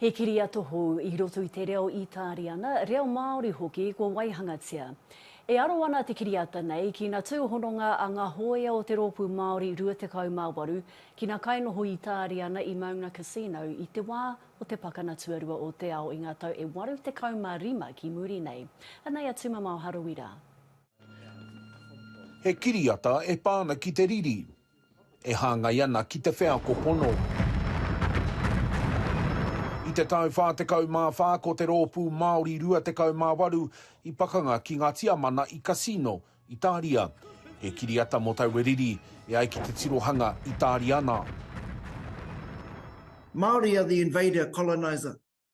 He kiriata hou i roto i te reo Itāriana, reo Māori hoki kua waihangatia. E aro ana te kiriata nei ki na tūhononga a nga hōia o te Rōpū Māori 28, ki na kainoho Itāriana i Mauna Cassino i te wā o te Pakana Tuarua o te Ao i nga tau e 85 ki muri nei. Anei a Tūmamao Harawira. He kiriata e pā ana ki te riri, e hāngai ana ki te wheako pono. I te tau 44 ko te Rōpū Māori 28 i pakanga ki ngā Tiamana i Cassino, Itāria. He kiriata mō taua riri, e ai ki te tirohanga Itāriana. Māori are the invader, colonizer.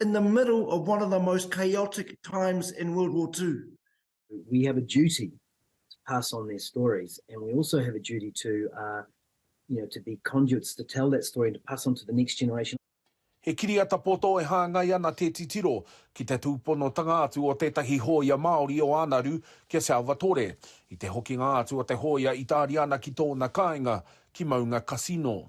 in the middle of one of the most chaotic times in World War Two. We have a duty to pass on their stories and we also have a duty to, uh, you know, to be conduits to tell that story and to pass on to the next generation. He kiriata poto e hāngai ana te titiro ki te tūponotanga atu o tētahi hōia Māori o Ānaru ki a Salvatore i te hokinga atu o te hōia Itāriana ki tōna kāinga, ki Maunga Cassino.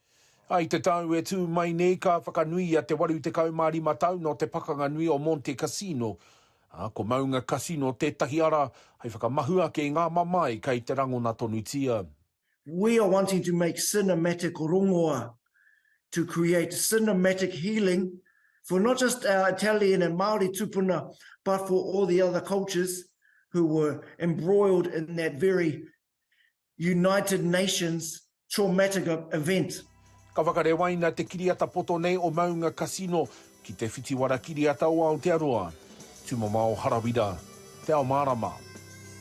I te tau e tū mai nei ka whakanuia te 85 tau nō te pakanga nui o Monte Cassino, ā, ko Maunga Cassino tētahi ara hai whakamahu ake i ngā mamae kei te rangona tonutia. We are wanting to make cinematic rongoa to create cinematic healing for not just our Italian and Māori tupuna but for all the other cultures who were embroiled in that very United Nations Traumatic Event. Ka whakarewaina te kiriata poto nei o Maunga Casino ki Te Whitiwara Kiriata o Aotearoa, Tumamao Harawira, Te Ao Mārama.